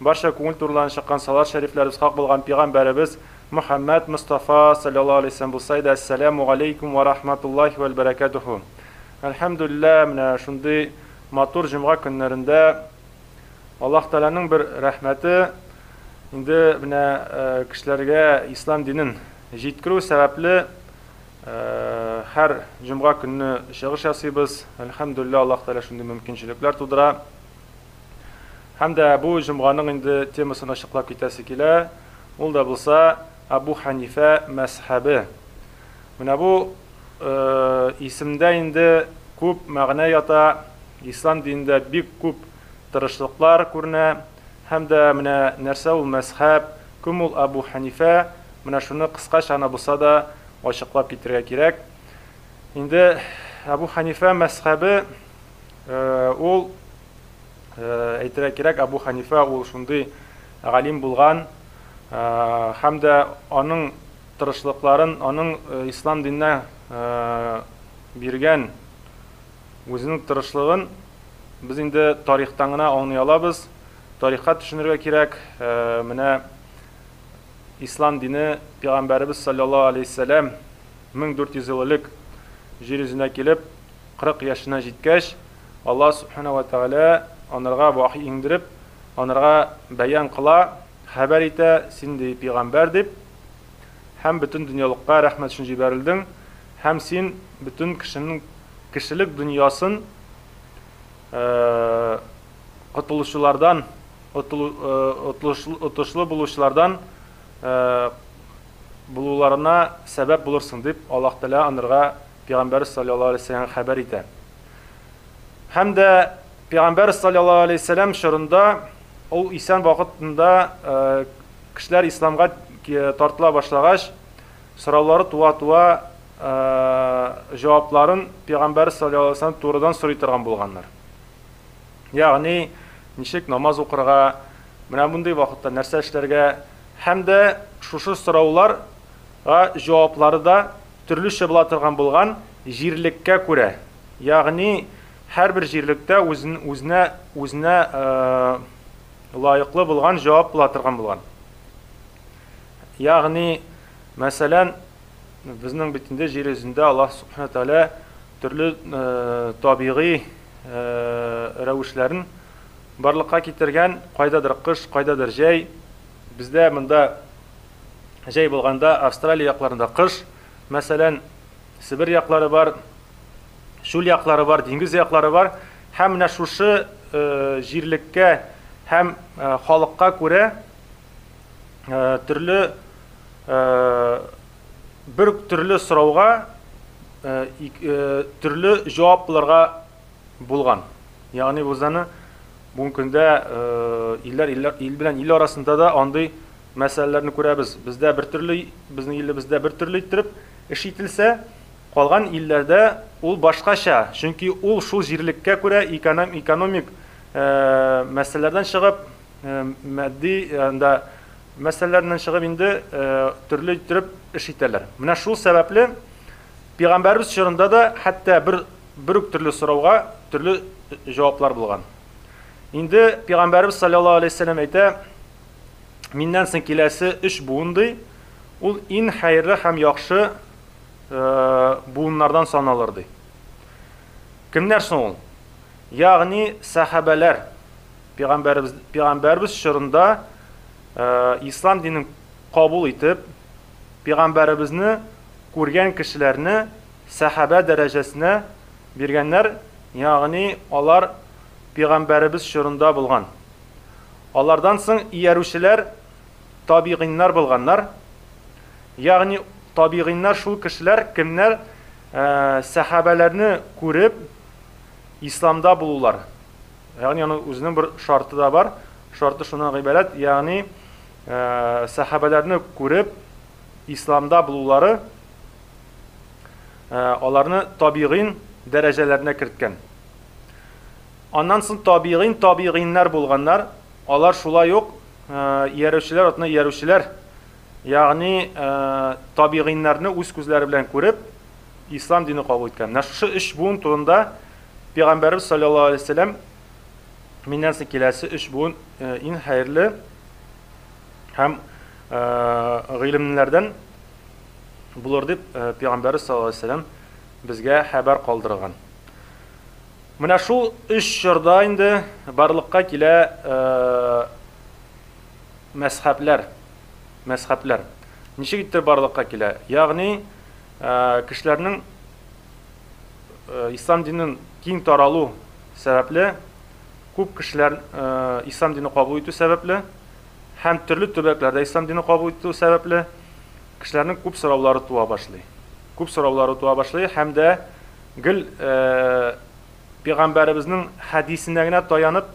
Барча күңел турыларын чыккан салат шәрифләребез хак булган пигамбәребез Мөхәммәд Мостафа салляллаһу аләйһи вәсәләм булса иде, Әссәләмү галәйкүм вә рахматуллаһи вәл бәрәкәтүһү! Әлхәмдүлиллә, менә шундый матур җомга көннәрендә Аллаһ Тәгаләнең бер рәхмәте, инде менә кешеләргә ислам динен җиткерү сәбәпле, һәр җомга көнне чыгыш ясыйбыз. Әлхәмдүлиллә, Аллаһ Тәгалә шундый мөмкинчелекләр тудыра. Һәм дә бу җомганың инде темасын ачыклап китәсе килә, ул да булса Абу Ханифә мәсхәбе. Менә бу исемдә инде күп мәгънә ята, ислам динендә бик күп тырышлыклар күренә, һәм дә менә нәрсә ул мәсхәб, кем ул Абу Ханифә, менә шуны кыскача гына булса да ачыклап китергә кирәк. Инде Абу Ханифә мәсхәбе Ул, әйтергә кирәк, Әбу Хәнифә ул шундый галим булган һәм дә аның тырышлыкларын, аның ислам диненә биргән үзенең тырышлыгын без инде тарихтан гына аңлый алабыз. Тарихка төшенергә кирәк, менә ислам дине пәйгамбәребез саллаллаһу алейһи вәсәләм 1400 ел элек җир йөзенә килеп, 40 яшенә җиткәч, Аллаһ Сүбхәнәһү вә Тәгалә анырга вахи иңдереп, анырга бәян кыла, хәбәр итә, Син, ди, пигамбәр, дип, һәм бөтен дөньялыкка рәхмәт өчен җибәрелдең, һәм син бөтен кешенең кешелек дөньясын котылучылардан, отышлы булучылардан булуларына сәбәп булырсың, дип, Аллаһ Тәгалә анырга Пигамбәр салләллаһу алейһи вә сәлләм хәбәр итә. Һәм дә Пигамбәр салләллаһу алейһи вә сәлләм чорында ул исән вакытында кешеләр исламга тартыла башлагач, сораулары туа-туа җавапларын Пигамбәр салләллаһу алейһи вә сәлләм турыдан сорый торган булганнар. Ягъни, ничек намаз укырга, менә мондый вакытта нәрсә эшләргә һәм дә шушы сорауларга җаваплары да Төрлечә була торган булган, җирлеккә күрә. Ягъни һәрбер җирлектә үзен үзенә үзенә лаеклы булган җавап була торган булган. Ягъни, мәсәлән, безнең бит инде җир йөзендә Аллаһ Субхана Тәгалә төрле табигый рәвешләрен барлыкка китергән, кайдадыр кыш, кайдадыр җәй. Бездә монда Җәй булганда Австралия якларында кыш, мәсәлән, Себер яклары бар, чүл яклары бар, диңгез яклары бар. Һәм менә шушы җирлеккә һәм халыкка күрә төрле бер төрле сорауга төрле җавап булырга булган. Ягъни Гузаны бүгенге көндә илләр ил белән ил арасында да андый мәсьәләләрне күрәбез. Бездә бер төрле, безнең илебездә бер төрле иттереп эш ителсә, калган илләрдә ул башкача. Чөнки ул шул җирлеккә күрә экономик мәсьәләләрдән чыгып, матди анда мәсьәләләрдән чыгып инде төрле иттереп эш итәләр. Менә шул сәбәпле Пигамбәрбез чорында да хәтта бер Бер үк төрле сорауга төрле җаваплар булган. Инде пигамбәрбез саллаллаһу алейһи вәсәлләм әйтә, миннән соң киләсе өч буын ди, ул ин хәерле һәм яхшы э, буыннардан саналыр ди. Кемнәр соң ул? Ягъни сәхабәләр пигамбәрбез пигамбәрбез чорында э, ислам динен кабул итеп, пигамбәребезне күргән кешеләрне Сәхабә дәрәҗәсенә биргәннәр, ягъни алар пигамбәребез чорында булган. Алардан соң иярүчеләр табигыйннар булганнар, ягъни табигыйннар шул кешеләр, кемнәр сәхабәләрне күреп исламда булулар. Ягъни аның үзенең бер шарты да бар, шарты шуннан гыйбарәт, ягъни сәхабәләрне күреп исламда булулары, аларны табигыйн дәрәҗәләренә керткән. Аннан соң табигыйн табигыйннар булганнар, алар шулай ук иярүчеләр атына иярүчеләр, ягъни табигыйннарны үз күзләре белән күреп, ислам дине кабул иткән. Менә шушы өч буын турында Пәйгамбәрбез саллаллаһу алейһи ва сәлләм миннән соң киләсе өч буын иң хәерле һәм гыйлемлеләрдән булыр дип пәйгамбәребез саллаллаһу алейһи вәсәлләм безгә хәбәр калдырган. Менә шул өч чорда инде барлыкка килә мәсхәбләр. Мәсхәбләр. Ничек итте барлыкка килә? Ягъни кешеләрнең ислам динен киң таралу сәбәпле күп кешеләр ислам динен кабул итү сәбәпле һәм төрле төбәкләрдә ислам дине кабул итү сәбәпле, кешеләрнең күп сораулары туа башлый. Күп сораулары туа башлый һәм дә гел э, пәйгамбәребезнең хәдисенә генә таянып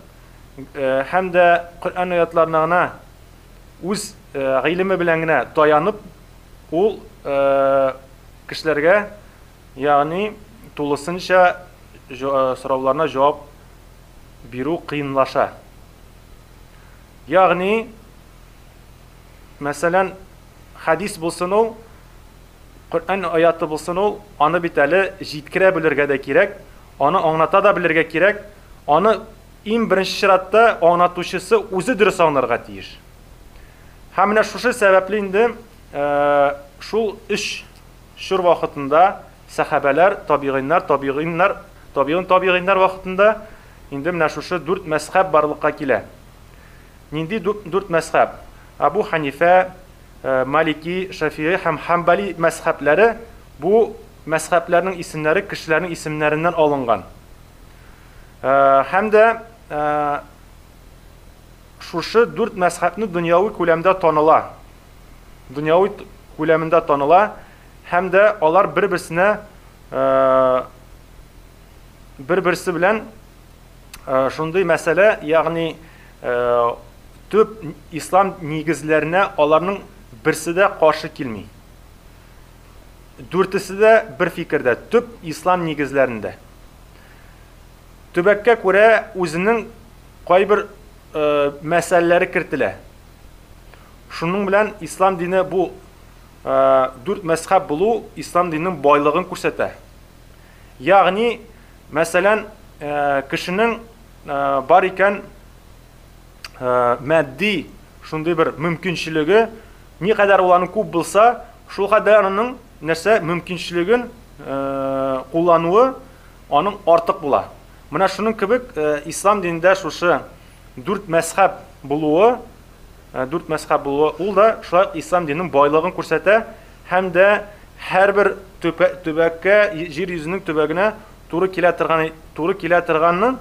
э, һәм дә Коръән аятларына гына үз э, гыйлеме белән генә таянып ул э, кешеләргә ягъни тулысынча э, сорауларына җавап бирү кыенлаша. Ягъни, мәсәлән, хәдис булсын ул, Коръән аяты булсын ул, аны бит әле җиткерә белергә дә кирәк, аны аңлата да белергә кирәк, аны иң беренче чиратта аңлатучысы үзе дөрес аңларга тиеш. Һәм менә шушы сәбәпле инде э, шул өч чор вакытында Сәхабәләр, табигыйннар, табигыйннар, табигыйн, табигыйннар вакытында инде менә шушы дүрт мәзхәб барлыкка килә. Нинди дүрт мәзхәб? Әбү Хәнифә, Малики, Шәфигый һәм Хәмбәли мәзхәбләре, бу мәзхәбләрнең исемнәре кешеләрнең исемнәреннән алынган. Һәм дә шушы дүрт мәзхәбне дөньяви күләмдә таныла. Дөньяви күләмендә таныла, Һәм дә алар бер-берсенә бер-берсе белән шундый мәсьәлә, ягъни төп ислам нигезләренә аларның берсе дә каршы килми. Дүртесе дә бер фикердә, төп ислам нигезләрендә. Төбәккә күрә үзенең кайбер мәсьәләләре кертелә. Шуның белән ислам дине бу Дүрт мәзхәб булу ислам диненең байлыгын күрсәтә. Ягъни, мәсәлән, кешенең бар икән матди шундый бер мөмкинчелеге, никадәр ул аның күп булса, шул кадәр аның нәрсә мөмкинчелеген куллануы аның артык була. Менә шуның кебек ислам динендә шушы дүрт мәзхәб булуы Дүрт мәзһәб булуы ул да шулай ук ислам диненең байлыгын күрсәтә һәм дә һәрбер төбәккә, җир йөзенең төбәгенә туры килә торган туры килә торганын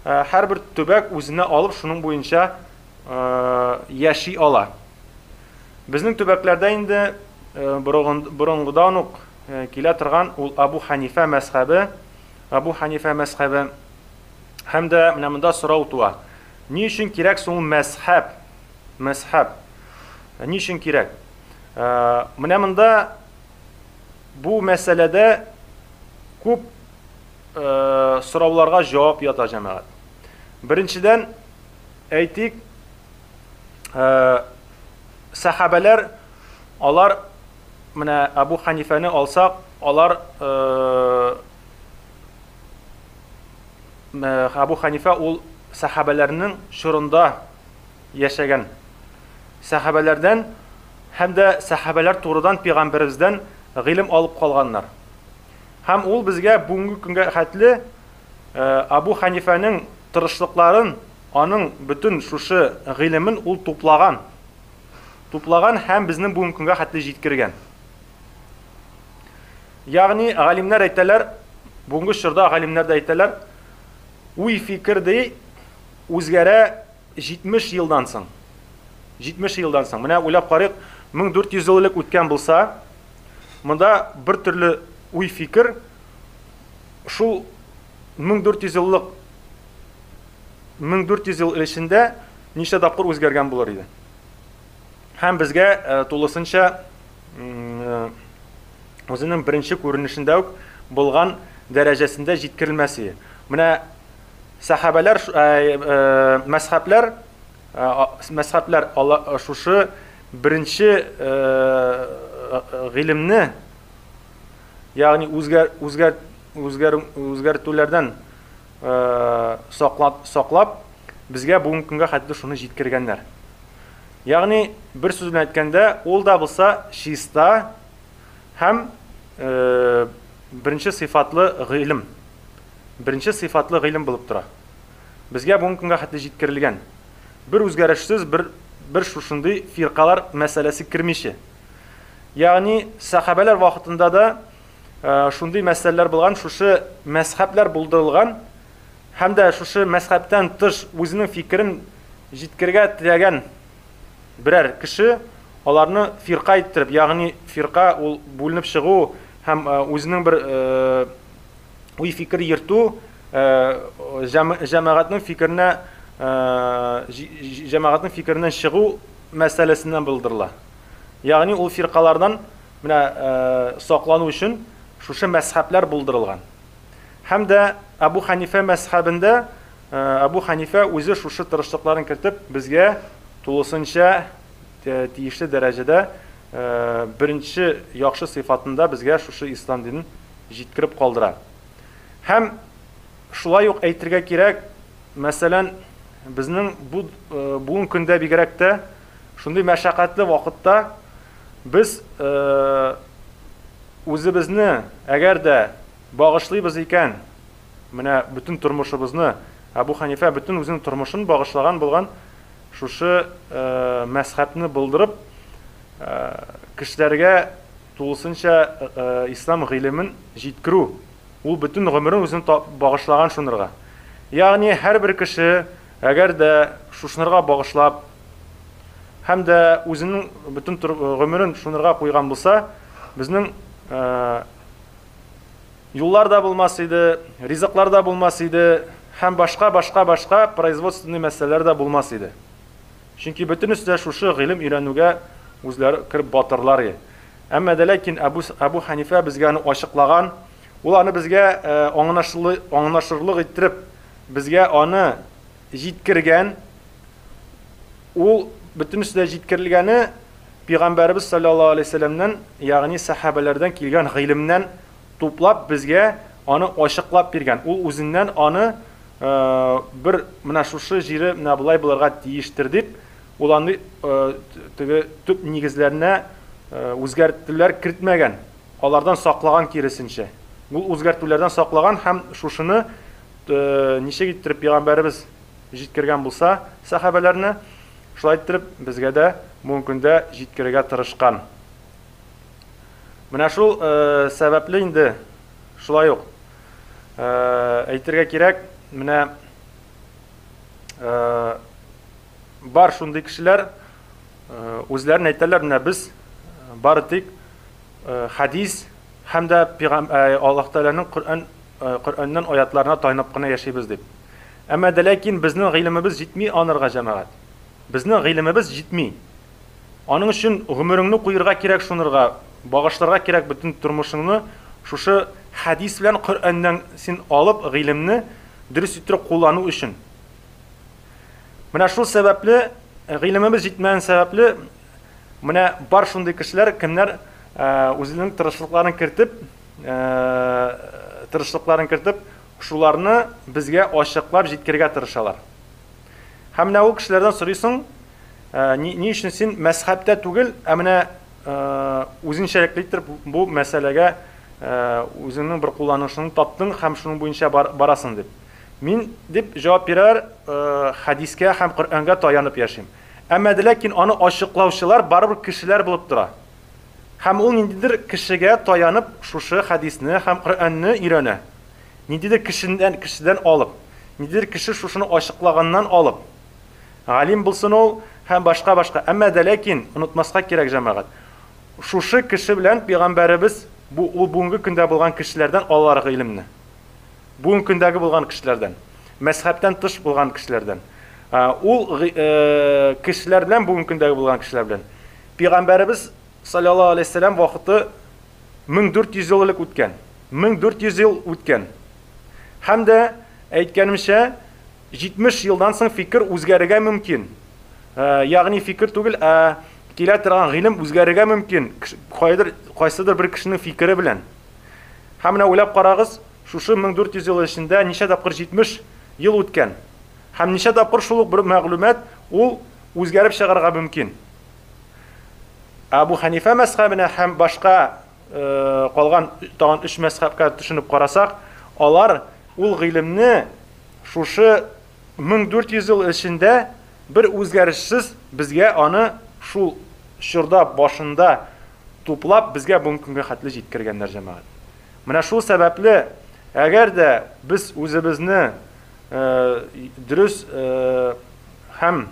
һәрбер төбәк үзенә алып шуның буенча яши ала. Безнең төбәкләрдә инде борынгыдан ук килә торган ул Абу Хәнифә мәзһәбе, Абу Хәнифә мәзһәбе һәм дә менә монда сорау туа, Ни өчен кирәк соң ул мәзһәб? Мәзһәб. Ни өчен кирәк? Менә монда бу мәсьәләдә күп сорауларга җавап ята җәмәгать. Беренчедән, әйтик, сәхабәләр алар менә Абу Ханифәне алсак, алар Әбу Хәнифә ул сәхабәләрнең чорында яшәгән. Сәхабәләрдән һәм дә сәхабәләр турыдан пәйгамбәребездән гыйлем алып калганнар. Һәм ул безгә бүгенге көнгә хәтле Әбу Хәнифәнең тырышлыкларын, аның бөтен шушы гыйлемен ул туплаган. Туплаган һәм безнең бүгенге көнгә хәтле җиткергән. Ягъни галимнәр әйтәләр, бүгенге чорда галимнәр дә әйтәләр, уй фикер ди үзгәрә 70 елдан соң. 70 елдан соң. Менә уйлап карыйк, 1400 ел элек үткән булса, монда бер төрле уй фикер шул 1400 еллык 1400 ел эчендә ничә тапкыр үзгәргән булыр иде. Һәм безгә э, тулысынча үзенең беренче күренешендә үк булган дәрәҗәсендә җиткерелмәсе. Менә сәхабәләр, мәсхәбләр, мәсхәбләр шушы беренче гыйлемне, ягъни үзгәр үзгәр үзгәр үзгәртүләрдән саклап саклап, безгә бүгенге көнгә хәтле шуны җиткергәннәр. Ягъни, бер сүз белән әйткәндә, ул да булса чиста һәм беренче сыйфатлы гыйлем. Беренче сыйфатлы гыйлем булып тора. Безгә бүгенге көнгә хәтле җиткерелгән. Бер үзгәрешсез, бер бер шушындый фиркалар мәсьәләсе кермичә. Ягъни, сахабәләр вакытында да шундый мәсьәләләр булган, шушы мәзхәбләр булдырылган. һәм дә шушы мәзхәбтән тыш үзенең фикерен җиткергә теләгән берәр кеше аларны фирка иттереп, ягъни фирка ул бүленеп чыгу һәм үзенең бер уй-фикер йөртү, җәмәгатьнең фикеренә җәмәгатьнең фикереннән чыгу мәсьәләсеннән булдырыла. Ягъни ул фиркалардан менә саклану өчен шушы мәзхәбләр булдырылган. Һәм дә Әбу Хәнифә мәзхәбендә Әбу Хәнифә үзе шушы тырышлыкларын кертеп, безгә тулысынча тиешле дәрәҗәдә беренче яхшы сыйфатында безгә шушы ислам динен җиткереп калдыра. Һәм шулай ук әйтергә кирәк, мәсәлән, безнең бу бүгенге көндә бигрәк тә шундый мәшәкатьле вакытта без үзебезне әгәр дә Багышлыйбыз икән, менә бөтен тормышыбызны, Әбу Хәнифә бөтен үзенең тормышын багышлаган булган шушы мәзхәбне булдырып, кешеләргә тулысынча ислам гыйлемен җиткерү, ул бөтен гомерен үзен багышлаган шунырга. Ягъни һәрбер кеше, әгәр дә шушнырга багышлап һәм дә үзенең бөтен гомерен шунырга куйган булса, безнең юллар да булмас иде, ризыклар да булмас иде һәм башка башка башка производственный мәсьәләләр дә булмас иде. Чөнки бөтенесе дә шушы гыйлем өйрәнүгә үзләре кереп батырлар иде. Әмма дә ләкин Әбу Әбу Ханифә безгә аны ачыклаган, ул аны безгә аңлашырлы аңлашырлык иттереп безгә аны җиткергән. Ул бөтенесе дә җиткерелгәне Пигамбәребез салләллаһу алейһи вәсәләмнән, ягъни сәхабәләрдән килгән гыйлемнән туплап безгә аны ачыклап биргән. Ул үзеннән аны бер менә шушы җире менә болай булырга тиештер дип, ул аны теге төп нигезләренә үзгәртүләр кертмәгән, алардан саклаган киресенчә. Ул үзгәртүләрдән саклаган һәм шушыны ничек иттереп пигамбәребез җиткергән булса сәхабәләренә, Шулай иттереп, безгә дә бүген көндә җиткерергә тырышкан. Менә шул сәбәпле инде шулай ук әйтергә кирәк, менә бар шундый кешеләр үзләрен әйтәләр, менә без бары тик хадис һәм дә Аллаһ Тәгаләнең Коръән Коръәннән аятларына таянып кына яшибез дип. Әмма дә ләкин безнең гыйлемебез җитми анырга, җәмәгать. Безнең гыйлемебез җитми. Аның өчен гомереңне куерга кирәк шунырга, багышларга кирәк бөтен тормышыңны шушы хәдис белән Коръәннән син алып гыйлемне дөрес иттереп куллану өчен. Менә шул сәбәпле, гыйлемебез җитмәгән сәбәпле, менә бар шундый кешеләр, кемнәр үзенең тырышлыкларын кертеп, тырышлыкларын кертеп, Шуларны безгә ачыклап җиткерергә тырышалар. Һәм менә ул кешеләрдән сорыйсың, Ни, ни өчен син мәзхәбтә түгел, ә менә үзенчәлекле итеп бу мәсьәләгә үзеңнең бер кулланышыңны таптың һәм шуның буенча барасың дип. Мин, дип җавап бирәләр, хәдискә һәм Коръәнгә таянып яшим. Әмма дә ләкин аны ачыклаучылар барыбер кешеләр булып тора. Һәм ул ниндидер кешегә таянып шушы хәдисне һәм Коръәнне өйрәнә. Ниндидер кешедән, кешедән алып, ниндидер кеше шушыны ачыклаганнан алып, галим булсын ул һәм башка, башка. Әмма дә ләкин, онытмаска кирәк, җәмәгать, шушы кеше белән пәйгамбәребез, бу, ул бүгенге көндә булган кешеләрдән алалар гыйлемне. Бүгенге көндәге булган кешеләрдән. Мәзһәбтән тыш булган кешеләрдән. Ул кешеләр белән, бүгенге көндәге булган кешеләр белән, Пигамбәребез салләллаһу галәйһи сәлам вакыты 1400 ел элек үткән. 1400 ел үткән. Һәм дә әйткәнемчә, 70 елдан соң фикер үзгәрергә мөмкин. Ә, ягъни фикер түгел, ә килә торган гыйлем үзгәрергә мөмкин. Кайдыр кайсыдыр бер кешенең фикере белән. Һәм менә уйлап карагыз, шушы 1400 ел эчендә ничә тапкыр 70 ел үткән. Һәм ничә тапкыр шул ук бер мәгълүмат ул үзгәреп чыгарга мөмкин. Абу Ханифа мәзхәбенә һәм башка калган тагын өч мәзхәбкә төшенеп карасак, алар ул гыйлемне шушы 1400 ел эчендә бер үзгәрешсез безгә аны шул чорда башында туплап безгә бүгенге көнгә хәтле җиткергәннәр җәмәгать. Менә шул сәбәпле, әгәр дә без үзебезне Дөрес һәм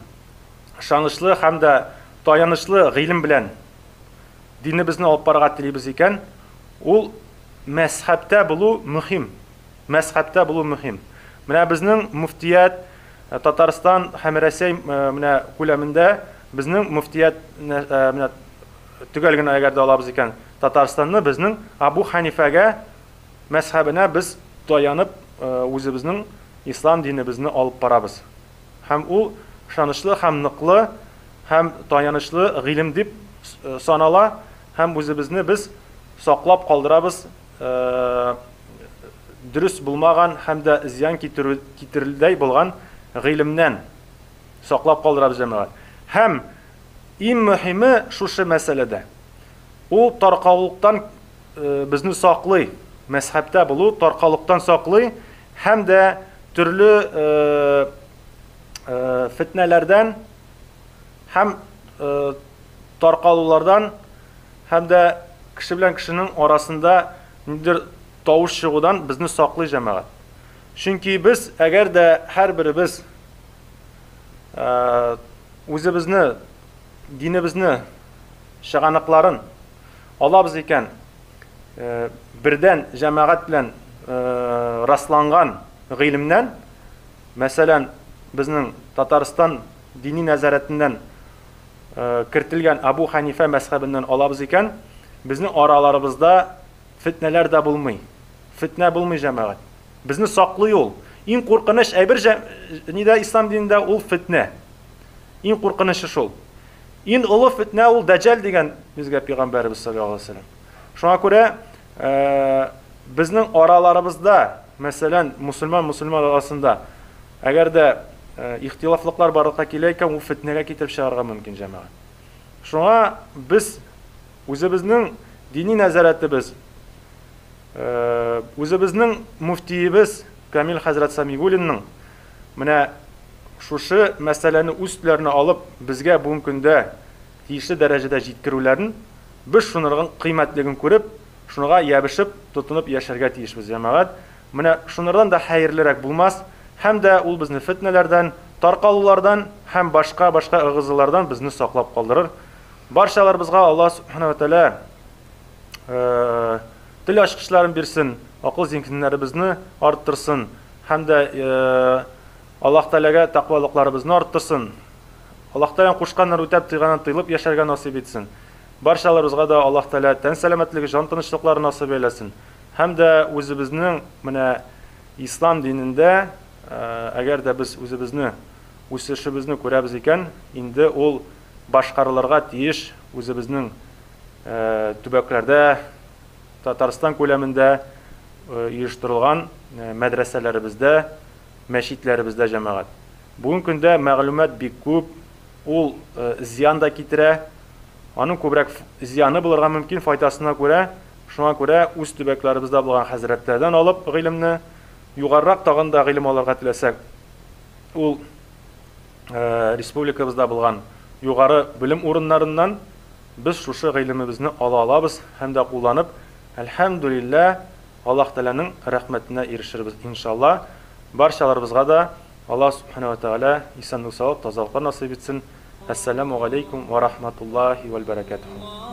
ышанычлы һәм дә таянычлы гыйлем белән динебезне алып барырга телибез икән, ул мәзһәбтә булу мөһим. Мәзһәбтә булу мөһим. Менә безнең мөфтият Татарстан һәм Рәсәй менә күләмендә безнең мөфтият менә төгәл генә әгәр дә алабыз икән, Татарстанны безнең Абу Ханифәгә мәзһәбенә без таянып үзебезнең ислам динебезне алып барабыз һәм ул ышанычлы һәм ныклы һәм таянычлы гыйлем дип санала һәм үзебезне без саклап калдырабыз дөрес булмаган һәм дә зыян китерердәй булган гыйлемнән саклап калдырабыз җәмәгать һәм иң мөһиме шушы мәсьәләдә ул таркаулыктан безне саклый, мәзһәбтә булу таркалыктан саклый һәм дә төрле фетнәләрдән һәм таркалулардан һәм дә кеше белән кешенең арасында ниндидер тавыш чыгудан безне саклый җәмәгать. Чөнки без, әгәр дә һәрберебез үзебезне, динебезне чыганакларын Алабыз икән, бердән җәмәгать белән расланган гыйлемнән, мәсәлән, безнең Татарстан дини нәзарәтеннән кертелгән Абу Ханифә мәзхәбеннән алабыз икән, безнең араларыбызда фетнәләр дә булмый. Фетнә булмый җәмәгать. Безне саклый ул. Иң куркыныч әйбер нидә ислам динендә ул фетнә. Иң куркынычы шул. Ин олы фетнә ул дәҗәл дигән безгә пигамбәребез саллаллаһу алейһи ва сәлләм. Шуңа күрә безнең араларыбызда, мәсәлән, мусульман мусульман арасында әгәр дә ихтилафлыклар барлыкка килә икән, ул фетнәгә китереп чыгарга мөмкин җәмәгать. Шуңа без үзебезнең дини нәзарәтебез, үзебезнең муфтиебез Камил хәзрәт Самигуллинның Менә шушы мәсьәләне үз өсләренә алып, безгә бүгенге көндә тиешле дәрәҗәдә җиткерүләрен, без шуныргың кыйммәтлеген күреп, шунырга ябешеп, тотынып яшәргә тиешбез, җәмәгать. Менә шунырдан да хәерлерәк булмас, һәм дә ул безне фетнәләрдән, таркалулардан һәм башка-башка ыгы-зылардан безне саклап калдырыр. Барчаларыбызга Аллаһ Субхана ва Тәгалә тел ачкычларын бирсен, акыл зиһеннәребезне арттырсын һәм дә Аллаһ Тәгаләгә тәкъвалыкларыбызны арттырсын. Аллаһ Тәгаләнең кушканнар үтәп тыйганын тыйлып яшәргә насыйп итсен. Барчаларыбызга да Аллаһ Тәгалә тән сәламәтлеге, жан тынычлыклары насыйп әйләсен. Һәм дә үзебезнең менә ислам динендә, әгәр дә без үзебезне үсешебезне күрәбез икән, инде ул башкарылырга тиеш үзебезнең төбәкләрдә, Татарстан күләмендә оештырылган мәдрәсәләребездә, мәчетләребездә җәмәгать. Бүген көндә мәгълүмат бик күп, ул зыян да китерә. Аның күбрәк зыяны булырга мөмкин файдасына күрә. Шуңа күрә үз төбәкләребездә булган хәзрәтләрдән алып гыйлемне, югарырак тагын да гыйлем алырга теләсәк, ул республикабызда булган югары белем урыннарыннан без шушы гыйлемебезне ала алабыз һәм дә кулланып, әлхәмдүлиллә, Аллаһ Тәгаләнең рәхмәтенә ирешербез, иншалла. Барчаларыбызга да Аллаһ Сүбхәнәһү вә Тәгалә исәнлек-саулык, тазалыклар насыйп итсен. Әссәләмү галәйкүм вә рахматуллаһи вәл бәрәкәтүһү.